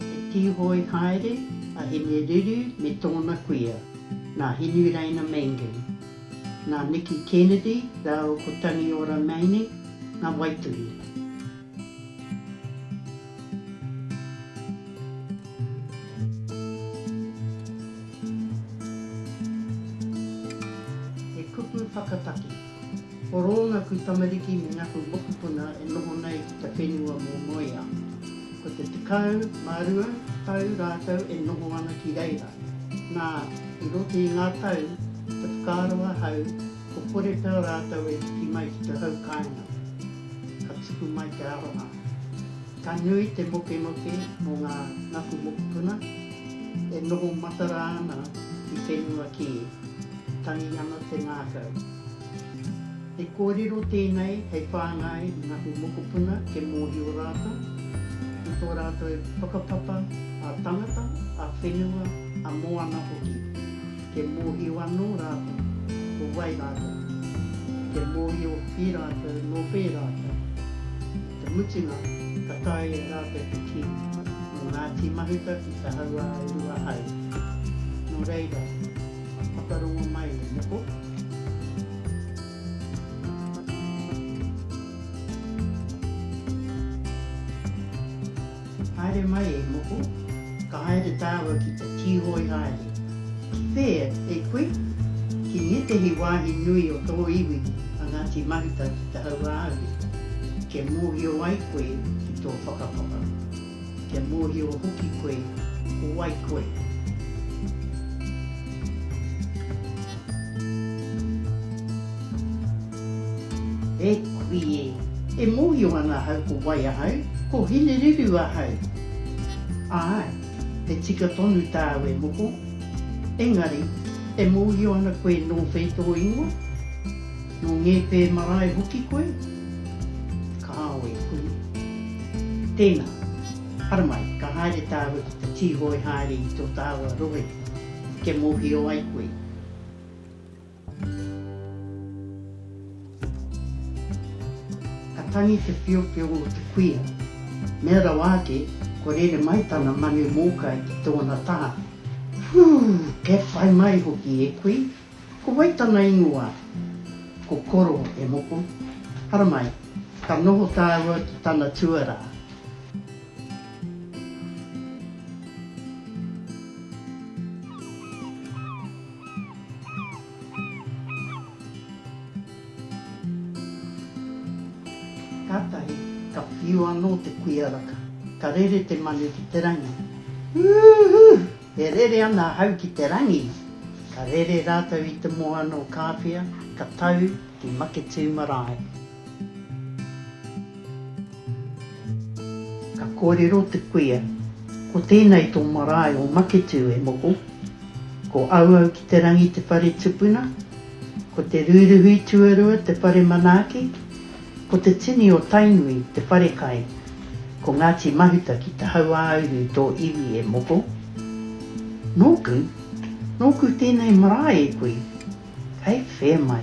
He tīhoe haere a Hine Riru me tōna kuia, nā Hinureina Mangan, nā Niki Kennedy rāua ko Tangiora Maine ngā waituhi. He kupu whakataki. Ko Rōngaku tamariki me Ngaku mokopuna e noho nei ki te whenua mō Moea. Ko te tekau mā rua tau rātou e noho ana ki reira. Nā, i roto i ngā tau, te whakaaro ahau, ko kore pea rātou e piki mai ki te hau kāinga. Ka tupu mai te aronga. Ka nui te mokemoke mō ngā Ngaku mokopuna e noho matara ana ki whenua kē. Tangi ana te ngākau. He kōrero tēnei hei whāngai i ngā mokopuna kia mōhio rātou i tō rātou whakapapa ā-tangata, ā-whenua, ā-moana hoki. Kia mōhio anō rātou ko wai rātou. Kia mōhio i rātou nō whē rātou. Te mutunga, ka tae e rātou te kī, nō Ngāti Mahuta ki te hauā e rua haere. Nō reira, whakarongo mai e noho. Haere mai e moko, ka haere tāua ki te tīhoi haere. Ki whea e koe? Ki ngētehi wāhi nui o tō iwi a Ngāti Mahuta ki te hauāuru, kia mōhio ai koe ki tō whakapapa, kia mōhio hoki koe ko wai koe. E kui e! E mōhio ana ahau ko wai ahau, ko Hinereru ahau. Āe, he tika tonu tāu e moko. Engari, e mōhio ana koe nō whei tō ingoa? Nō Ngēpē marae hoki koe? Kāo e kui. Tēnā, haramai, ka haere tāua ki te tīhoe haere i tō tāua rohe, kia mōhio ai koe. Ka tangi te piopio o te kuia. Mea rawa ake, kua rere mai tana manu mōkai ki tōna taha. Whuu! E whai mai hoki e kui! Ko wai tana ingoa? Ko Koro, e moko. Haramai, ka noho tāua ki tana tuarā. Kātahi ka whiu anō te kuia raka, ka rere te manu ki te rangi. Ūhū! E rere ana ahau ki te rangi! Ka rere rātou i te moana o Kāwhia, ka tau ki Maketū marae. Ka kōrero te kuia, Ko tēnei tō marae o Maketū e moko, ko Auau ki te rangi te whare tupuna, ko Te Rūruhi tuarua te whare manaaki, ko Te Tini o Tainui te whare kai, ko Ngāti Mahuta ki te hauāuru tō iwi e moko. Nōku, nōku tēnei marae e kui, kei whē mai.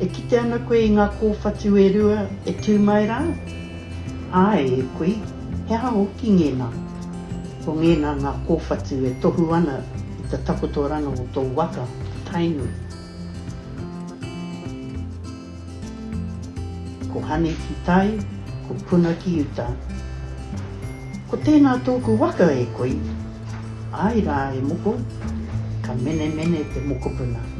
E kite ana koe i ngā kōwhatu e rua e tū mai rā? Āe, e kui, he aha hoki ngēnā? Ko ngēnā ngā kōwhatu e tohu ana i te takotoranga o tō waka, Tainui. Ko Hani ki tai, ko Puna ki uta. Ko tēnā tōku waka, e kui. Āe rā, e moko, ka menemene te mokopuna.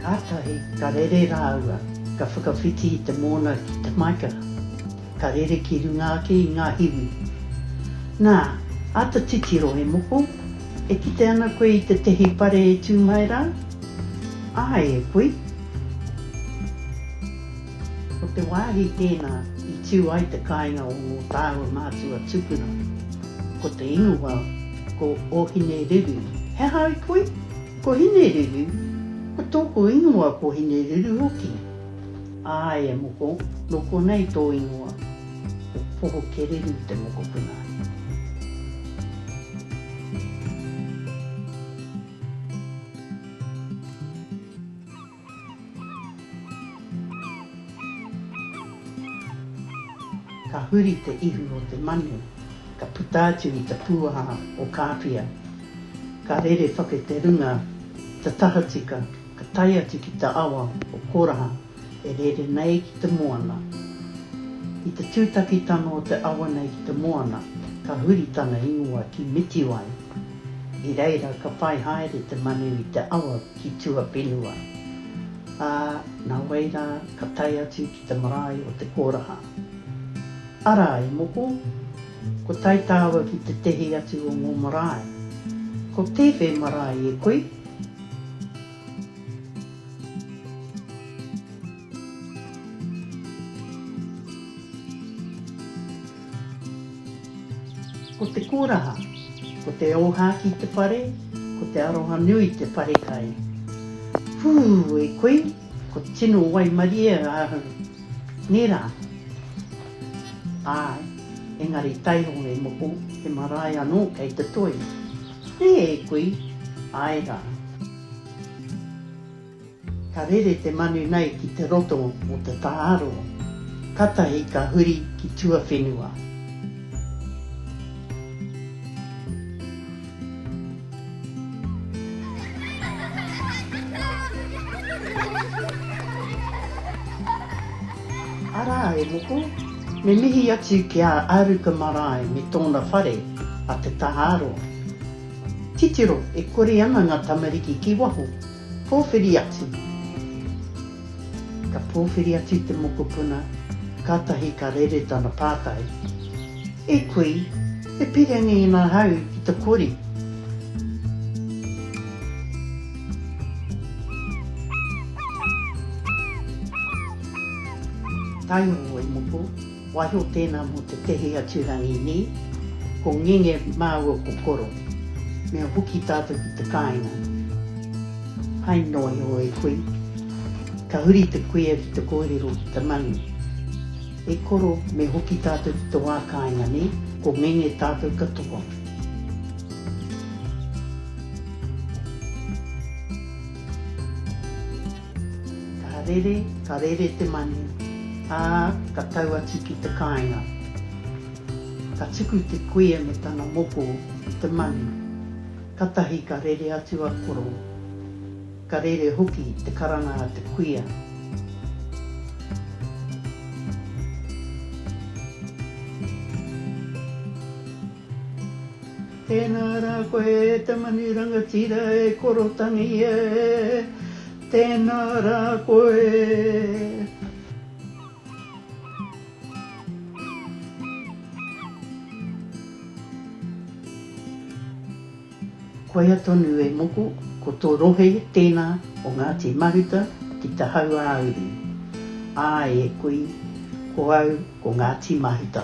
Kātahi ka rere rāua, ka whakawhiti i te mōna ki te maika, ka rere ki runga ake i ngā hiwi. Nā, āta titiro e moko, e kite ana koe i tētehi pare e tū mai rā? Āe e kui. Ko te wāhi tēnā i tiu ai te kāinga o ngō tāua mātua tupuna, ko te ingoa ko Ōhinereru. He aha ai koe? Ko Hinereru, ko tōku ingoa ko Hinereru hoki. Āe e moko, nō konei tō ingoa, ko Pohokereru te mokopuna. Ka huri te ihu o te manu, ka puta atu i te pūaha o Kāpia. Ka rere whake te runga i te tahatika, ka tae atu ki te awa o Koraha e rere nei ki te moana. I te tūtakitanga o te awa nei ki te moana, ka huri tana ingoa ki Mitiwai. I reira ka whai haere te manu i te awa ki tuawhenua, ā, nā wai rā ka tae atu ki te marae o te kōraha. Arā, e moko, ko tae tāua ki tētehi atu o ngō marae. Ko tēwhē marae e koe? Ko te koraha, ko te ōhākī te whare, ko te arohanui te wharekai. Whū! E koe, ko tino waimarie ahau. Nē rā? Āe, engari taiho e moko, he marae anō kei te toi. Nē e koe? Āe rā. Ka rere te manu nei ki te roto o te tāro, katahi ka huri ki tuawhenua. Arā e moko, me mihi atu ki a Aruka Marae me tōna whare, a Te Tāro. Titiro, e kore ana ngā tamariki ki waho. Pōwhiri atu Ka pōwhiri atu te mokopuna, kātahi ka rere tana pātai, E kui, e pire nei nā hau ki te kori? Taihoa e moko. Waiho tēnā mō te tehi atu rangi nī, ko ngenge māua ko koro, me hoki tātou ki te kāinga. Hai noa iho e koe, ka huri te kuia ki te kōrero ki te manu. E koro, me hoki tātou ki te wā kāinga nī, ko ngenge tātou katoa. Ka rere, ka rere te manu, ā, ka tau atu ki te kāinga. Ka tuku te kuia me tana moko i te manu. Katahi ka rere atu a Koro, ka rere hoki te karanga a te kuia. Tēnā rā koe e te manu rangatira e Korotangi e, tēnā rā koe. Koia tonu e moko, ko tō rohe tēnā o Ngāti Mahuta ki te hauāuru. Āe e kui, ko au ko Ngāti Mahuta.